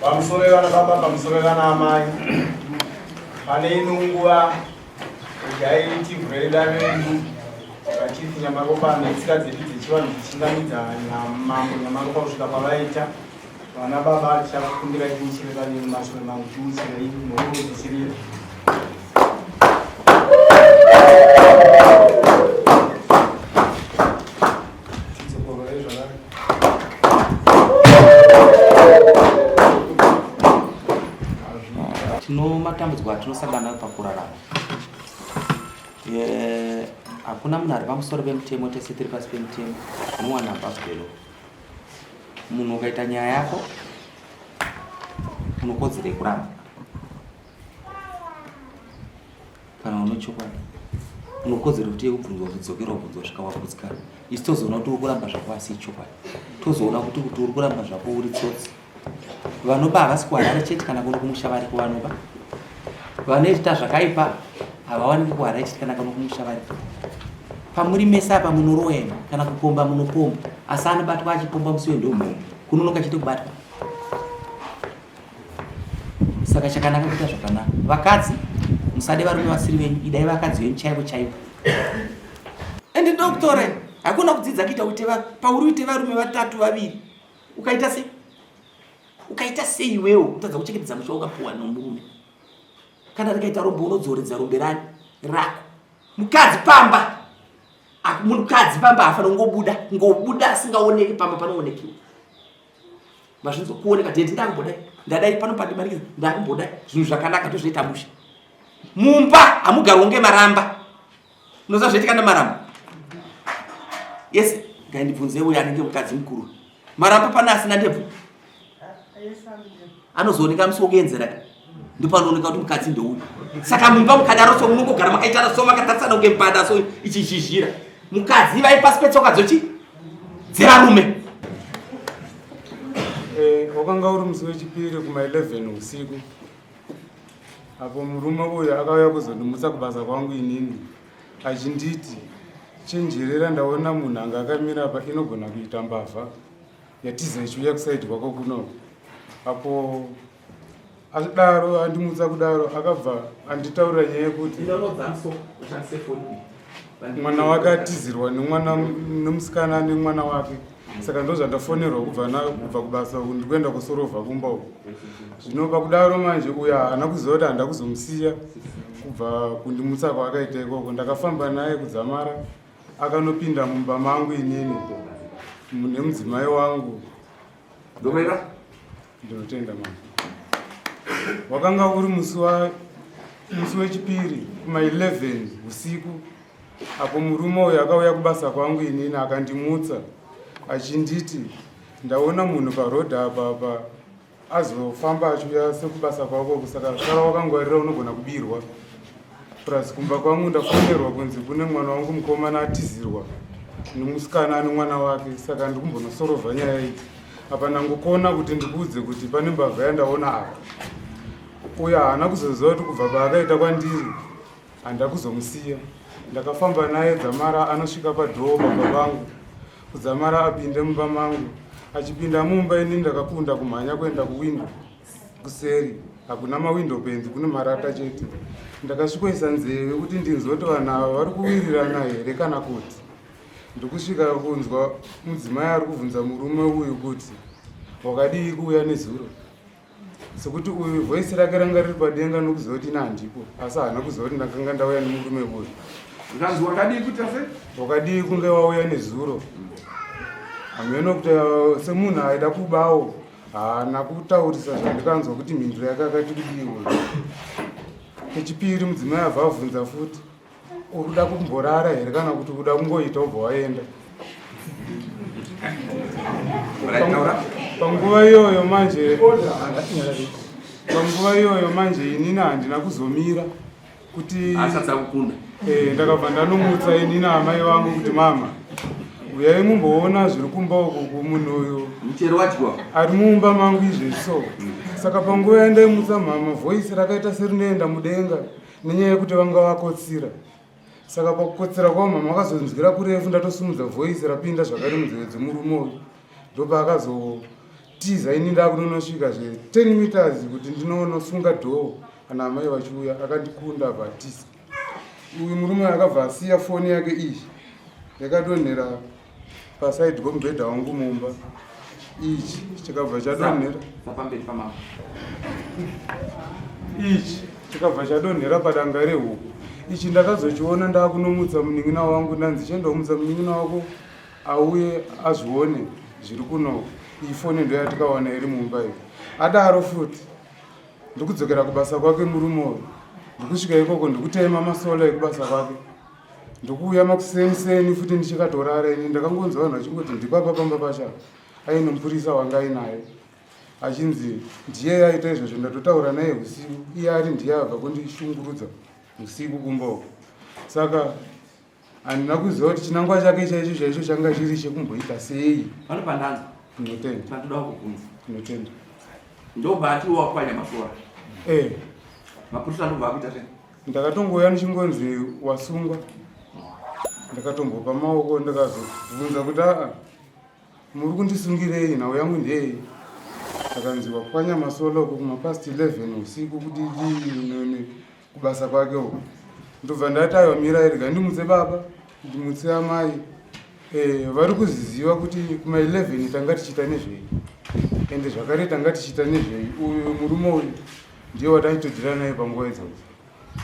pamusorevana baba pamusorevana amai pane ino nguva kudai tivhureda vedu vachiti nyamaropa netsika dzedu dzechivanhu dzichingamidza mambo nyamaropa kusvika kwavaita Vana baba tichakumbira tichire pane maswe mangu tiuchira ini nokuti tichirira. Tinomatambudziko atinosangana nayo pakurarama. Hakuna munhu ari pamusoro pemutemo tese tiri pasi pemutemo. Muwana bhaskelo. munhu ukaita nyaya yako unokodzera yekuramba kana une chokwadi unokodzera kuti yekubvunzwa kudzokera ubvunzwa kusvika wagutsikana isi tozoona kuti uri kuramba zvako asi ichokwadi tozoona kuti kuti uri kuramba zvako uri tsotsi vanoba havasi kuharare chete kana kuno kumusha variko vanoba vanoita zvakaipa havawaniki kuharare chete kana kuno kumusha variko pamuri mese apa munoroema kana kupomba munopomba asi anobatwa achipomba musi wendombo kunonoka chete kubatwa saka chakanaka kuita zvakanaka vakadzi musade varume vasiri venyu idai vakadzi venyu chaivo chaivo ende doctore hakuna kudzidza kuita kuti pauri uite varume vatatu vaviri ukaita sei ukaita sei iwewo kutadza kuchengetedza musha wakapuwa nomurume kana rikaita rombe unodzoredza rombe rani rako mukadzi pamba mukadzi pamba hafana kungobuda ngobuda asingaoneki pamba panoonekiwa mazvinzwa kuoneka tete ndakumbodai ndadai pano pandimanikiza ndakumbodai zvinhu zvakanaka tozviita musha mumba hamugarwo ngemaramba Unoziva zvaitika naMaramba? Yes, ngaindibvunze uyo anenge mukadzi mukuru. Maramba pane asina ndebvu? Anozooneka musi wokuenzera ka. Ndopanooneka kuti mukadzi ndeuyu. Saka mumba mukadaro so munongogara makaitana so makatarisana kunge mbada so ichizhizhira. Mukadzi ivai pasi petsoka dzochi dzevarume. Eh, wakanga uri musi wechipiri kuma 11 usiku. apo murume uyu akauya kuzondimutsa kubasa kwangu inini achinditi chenjerera ndaona munhu anga akamira apa inogona kuita mbavha yatiza ichiuya kusaidi kwako kuno apo adaro andimutsa kudaro akabva anditaurira nyaya yekuti mwana wake atizirwa nemwana nemusikana nemwana wake saka ndozvandafonerwa kubva kubva kubasa uku ndikuenda kusorova kumba uku zvino pakudaro manje uyo haana kuziva kuti handa kuzomusiya kubva kundimutsa kwaakaita ikoko ndakafamba naye kudzamara akanopinda mumba mangu inini nemudzimai wangu domera Ndinotenda mama. Wakanga uri musi wa musi wechipiri kuma 11 usiku apo murume uyu akauya kubasa kwangu inini akandimutsa achinditi ndaona munhu paroad apa apa azofamba achiuya sekubasa kwako kusaka sara wakangwarira unogona kubirwa plus kumba kwangu ndafonerwa kunzi kune mwana wangu mukomana atizirwa nemusikana ane mwana wake saka ndikumbonosorovha nyaya iyi apa ndangokona kuti ndikuudze kuti pane mbavha yandaona apa uyo haana kuzoziva kuti kubva paakaita kwandiri handa kuzomusiya ndakafamba naye dzamara anosvika padhoo baba vangu kudzamara apinde mumba mangu achipinda mumba ini ndakakunda kumhanya kuenda kuwindo kuseri hakuna mawindo penzi kune marata chete ndakasvikoisa nzeve kuti ndinzwe kuti vanhu ava vari kuwirirana here kana kuti ndikusvika kunzwa mudzimai ari kubvunza murume uyu kuti wakadii kuuya nezuro sekuti uyu voisi rake ranga riri padenga nokuziva kuti ina handipo asi haana kuziva kuti ndakanga ndauya nemurume uyu zvanzi wakadii kuita se wakadii kunge wauya nezuro hameno kuti uh, semunhu aida kubawo haana kutaurisa zvandikanzwa kuti mhinduro yake akati kudiwe kechipiri mudzimai abva avhunza futi uri kuda kumborara here kana kuti kuda kungoita ubva waenda panguva iyoyo manje panguva iyoyo manje inini handina kuzomira kuti asati akukunda eh ndakabva ndanomutsa ini na amai vangu kuti mama uyai mumboona zviri kumba uko kumunhu uyu muchero wadyiwa ari mumba mangu izvi so saka panguva yandaimutsa mama voice rakaita serinoenda mudenga nenyaya yekuti vanga vakotsira saka pakukotsira kwavo mama vakazonzwira kurefu ndatosumudza voice rapinda zvakare munzeve dzemurume uyu ndopaakazo tiza ini ndakunonosvika zve 10 meters kuti ndinonosunga dhoo kana amai vachiuya akandikunda abva atiza uyu murume akabva asiya foni yake iyi yakadonhera pasaidi komubhedha wangu mumba ichi chikabva chadonhera ichi chikabva chadonhera padanga rehuku ichi ndakazochiona ndaakunomutsa munin'ina wangu ndanzi chiendaomutsa munin'ina wako auye azvione zviri kuno iyi foni ndo yatikaona iri mumba iyo adaro futi ndikudzokera kubasa kwake murume uyu ndikusvika ikoko ndikutema masola ekubasa kwake ndikuuya makuseniseni futi ndichikatorara ini ndakangonzwa vanhu vachingoti ndipapa pamba pacha aine mupurisa wanga ainaye achinzi ndiye yaita izvozvo ndatotaura naye usiku iye ari ndiye abva kundishungurudza usiku kumboko saka handina kuziva kuti chinangwa chake chaicho chaicho changa chiri chekumboita sei pano pandanza tinotenda pandoda kukubvunza tinotenda ndobati wakwanya masora eh mapurisa ndobva akuita sei ndakatongouya ndichingonzi wasungwa ndakatombopa maoko ndakazobvunza kuti aa muri kundisungirei nhau yangu ndeyei akanzi wakwanya masola uko kumapast 11 usiku kuti dii kubasa kwake uko ndobva ndati aiwa mirai rega ndimutse baba ndimutse amai eh, vari kuzviziva kuti kuma 11 tanga tichiita nezvei ende zvakare tanga tichiita nezvei uyu murume uyu ndiye wataitodira naye panguva idzodzo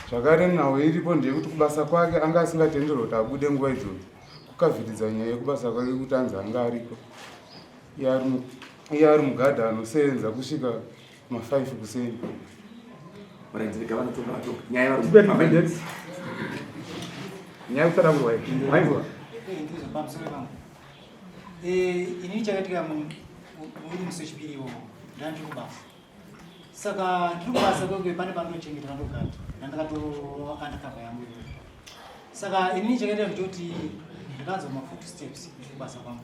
zvakare nhau iripo ndeyekuti kubasa kwake anga asingatenderwa kuti abude nguva idzodzo kukavhiridza nyaya yekubasa kwake kuti anzi anga ariko iye ari mugadha anosenza kusvika Ma 5 kuseni. Varaidzirika vanotonga vacho. Nyaya vari kubamba maindependence. Nyaya kusada kurwa ipi. Maizwa. Eh, ndizvo pamusoro pangu. Eh, ini chakatika mu muri musechipiri iwo. Ndandiri kubasa. Saka ndiri kubasa kwekwe pane panochengeta ndogata. Ndandakato undercover yangu. Saka ini chakatika kuti ndakanzwa ma footsteps ndiri kubasa kwangu.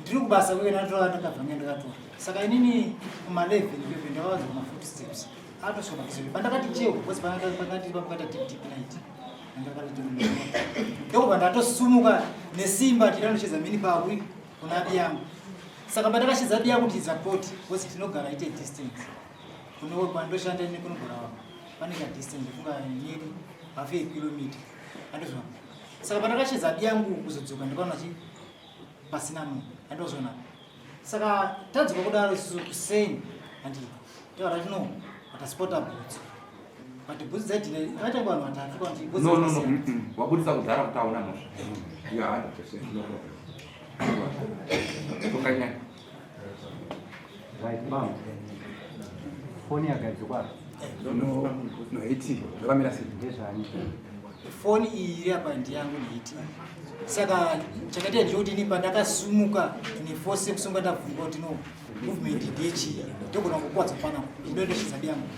ndiri kubasa uye ndatora ndakabva nge ndakatora saka inini kumalevi ndibebe ndakawanza kumafoot steps atosvika pakizoe pandakati cheo bcause pakati pakata tiptip night ndokubva ndatosumuka nesimba tiranocheza mini pawi kuna abi yangu saka pandakashedza abi yangu ndichidza poti bcause tinogara ite distance kunowe kwandoshanda ine kunogara wako pane ka distance funga nyeri hafe kilomita andozvaa saka pandakashedza abi yangu kuzodzoka ndikaona chii pasina munhu andozviona saka tadzoka kudaro isusu kuseni and taurati no ataspota bhutsu but bhutsu dzaidhina akaita vanhu vatatu kwanti bhutsu no no no mm, mm. wabudisa kudhara kuti aona mhosva you are 100% no problem tokanyanya Right, mom. Foni yagadzikwa. No, no, iti. Zvakamira sei? Ndezvani. Foni iyi iri apa ndiyangu ndiiti. Saka chakaita ndiyodini pandakasumuka ine force yekusumuka ndabvunga kuti no movement ndechii. Ndogona kukwadza fana. Ndoenda chizabi yangu.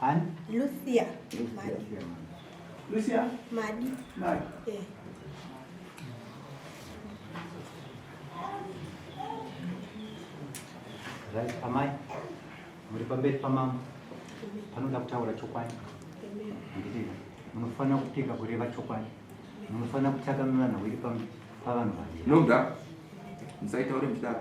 Hani? Lucia. Lucia. Lucia. Madi. Madi. Eh. Right, amai. Muri pamberi pamama. Panoda kutaura chokwadi. Ndidina. Munofanira kupika kureva chokwadi. Munofanira kutaka mivana wiri pavanhu vanje. Noga. Musaitaure mchidaro.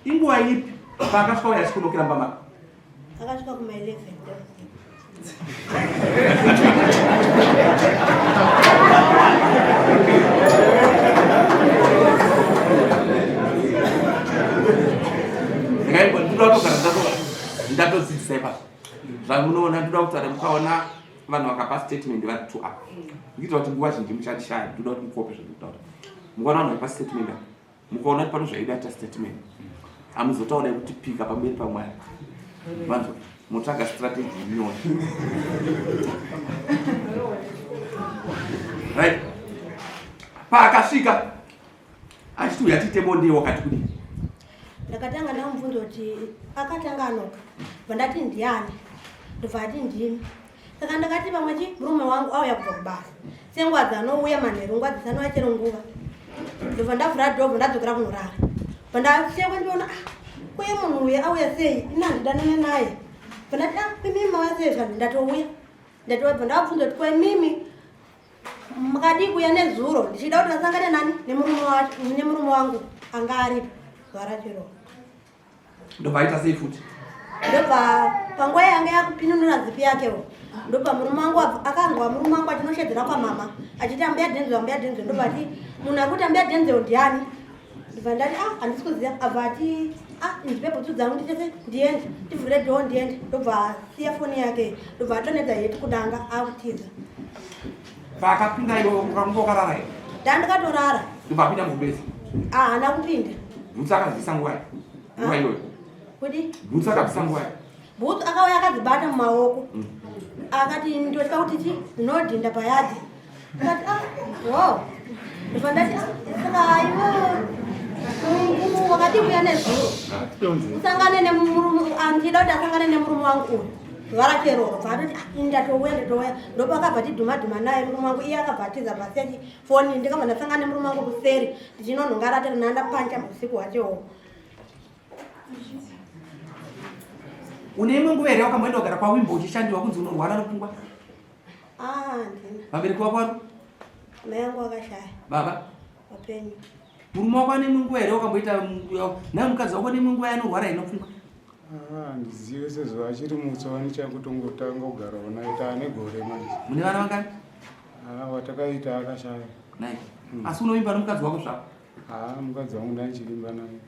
inguva ipi paakasvika uya achikunokira mba mako akasvika kuma 11 ndatodzidzisa ipapo zvamunoona ndoda kutaura mukaona vanhu vakapa statement vari two up ndiita kuti nguva zhinji muchandishaya ndinoda kuti mukope zvandikutaura mukaona vanhu vaipa statement apa mukaona kuti pano zvaida ta statement hamuzotaura yekuti pika pamberi pamwari vanzo motsvaga strategy inyoni right paakasvika achiti uyu atiite bonde wakati kudii ndakatanga ndamubvunza kuti akatanga anoka vandati ndiani ndobva ati ndimi saka ndakati pamwe chi murume wangu auya kubva kubasa senguva dzanouya manheru nguva dzisanouya chero nguva ndobva ndavhura dhobho ndadzokera kunorara vandasiyekwe ndiona ah, kuye munhu uye auya sei ini handidanane naye vandati ah, imimi mauya sei zvanhu ndatouya ndatouya bva ndavabvunza kuti kwaimimi Mukadii kuya nezuro ndichida kuti vasangane nani nemurume wangu anga ari gwara chero. Ndopaita sei futi? Ndopa panguva yange yakupinunura zipi yakewo ndopa murume wangu akanzwa murume wangu achinoshedzera kwamama achiti ambuya dhenzo ambuya dhenzo ndopati munhu akuti ambuya dhenzo ndiani ndibva ndati a ah, handisi kuziva abva ati a ah, ndipe bhutsu dzangu nditese ndiende ndivhure dho ndiende ndobva asiya foni yake ndobva atonedza heti kudanga akutiza paakapinda iwo ukamuka ukarara here ndandikatorara ndobva apinda mubezi a ah, haana kupinda bhutsu akazivisa nguva ya nguva iyoyo kuti bhutsu akabvisa nguva ya bhutsu akauya akadzibata mumaoko mm. akati ndotya kuti ti ndinodhinda payadhi usangane nemurume andida kuti asangane nemurume wangu uyu varacheroro bvaatoti ah, inda touya nditouya ndopakabva tidhumadhuma naye murume wangu iye akabva atiza pasechi foni ndikabva ndasangana nemurume wangu kuseri ndichinonhonga ratiri nanda pancha usiku hwacheoo une imwe nguva here wakamboenda kugara kwawimbo uchishandiwa kunzi unorwara rupfungwa Ah, ndini. Vabereki vako vari? Mai yangu akashaya. Baba? Vapenyu. Murume wako ane munguva here wakamboita naye mukadzi wako ne munguva yanorwara inofunga? Ah, ndizive sezuva achiri mutswa wani chakutongotanga kugara unaita ane gore manje. Mune vana vangani? Ah, watakaita akashaya. Nai. Hmm. Asi unovimba nomukadzi wako zvako? Ah, mukadzi wangu ndaichivimba naye.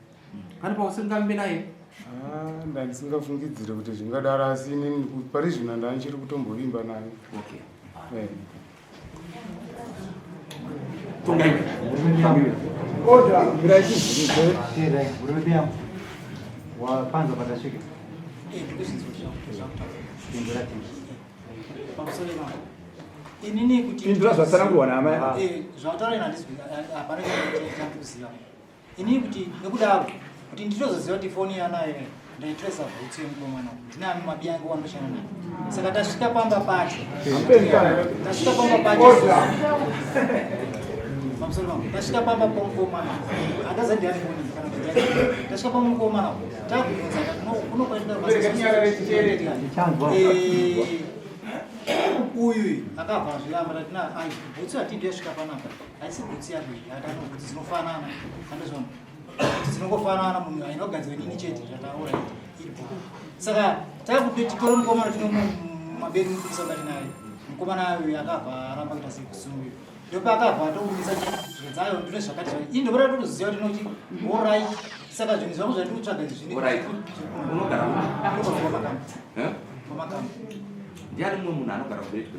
Pane pausingambe naye? Ah, ndandisingafungidzire kuti zvingadaro asi inini pari zvino ndandichiri kutombovimba naye. Okay. Eh. wapanza patasvika pindura zvataranguwana amai zvataura inandizvi hapana chakuziva Ini kuti nekudaro kuti nditozoziva kuti foni yanayo ndaitresa bhutsu yemukomana ndinani mabi ange wandoshana nayo saka tasvika pamba pacho tasvika pamba pacho tasvika pamba pomukomana andazandiani foni kana tasvika pamukomana takubvunza kunokwaitika uyu akabva azviramba tatina bhutsu hatidi yasvika panapa haisi kutsiya kuita yataona kuti dzinofanana andozvona kuti dzinongofanana munhu ainogadzira nini chete zvataura ipo saka takuti titore mukomana tino maberi mukubisa kati naye mukomana ayo akabva aramba kuita sekusungu ndopaakabva atobudisa zvinhu dzayo ndine zvakati zvai ii ndopota totoziva kuti nokuti orai saka zvinhu zvangu zvandiri kutsvaga izvi zvinounogara ndiani mumwe munhu anogara kuretwe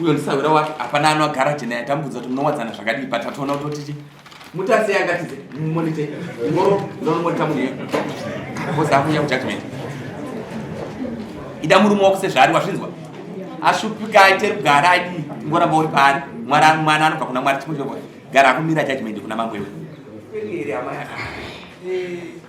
uyo ndisahwira wake hapana ano agara jena yatambudza kuti munowadzana zvakadii but atoona kuti otiti mutasi yangatize monite ngoro ndonomonita munhu iyo bcause akunya kujudgment ida murume wako sezvaari wazvinzwa ashupika aite rugara adii ngoramba uri paari mwana mwana anobva kuna mwari chimwe chinogoa gara akumira judgment kuna mambo iwe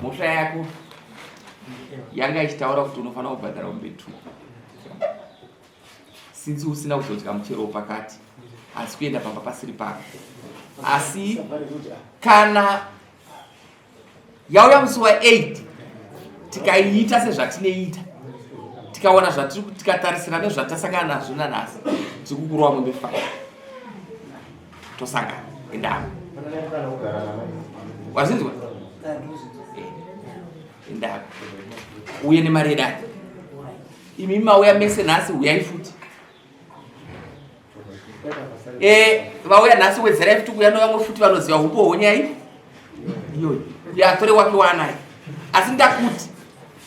mhosva yako yanga ichitaura kuti unofanira kubhadhara umbe two since usina kuzodya muchero wepakati asi kuenda pamba pasiri pako asi kana yauya musi wa 8 tikaiita sezvatinoita tikaona zvatiri tikatarisira nezvatasangana nazvo nanhasi tiri kukurova mombe faa tosanga indava wazinzwa eh, indava uye nemari yedare imi mauya mese nhasi uyai futi eh, vauya nhasi wedzerai futi kuuya novamwe futi vanoziva upo honyai iyoyi yatore wake waanayo asi ndakuti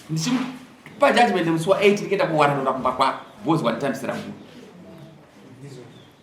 ndichipa judgment musi wa 8 ndikenda kuwana ndoda kumba kwako bhozi wanditambisira muu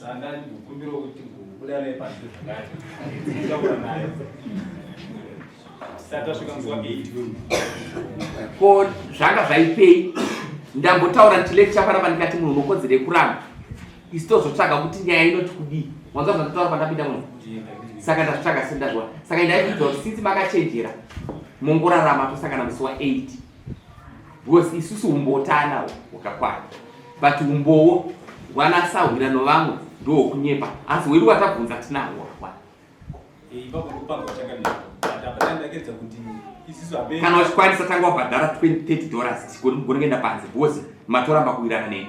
Saka ndikukumbira kuti kubuda naye pasi zvakati. Ndikakura naye. Saka svika mzuwa 8. Ko zvanga zvaipei? Ndambotaura kuti lecture pana pandikati munhu unokodzera yekuramba. Isitozotsvaga kuti nyaya inoti kudii. Mwanza zvandataura pandapinda muno. Saka ndazvitsvaga sendazviwa. Saka ndaikuudza kuti since makachenjera mongorarama tosangana musi wa 8. Because isusu umbotana wakakwana but umbowo wana sahwira no vamwe ndo kunyepa asi wedu watabvunza tinahwo wakakwana. Eh, ipapo kupanga chakadini. Ndakandakedza kuti isusu abe Kana uchikwanisa tanga wabhadhara 20 30 dollars tikoni mugona kuenda panze because matoramba kuwirana neni.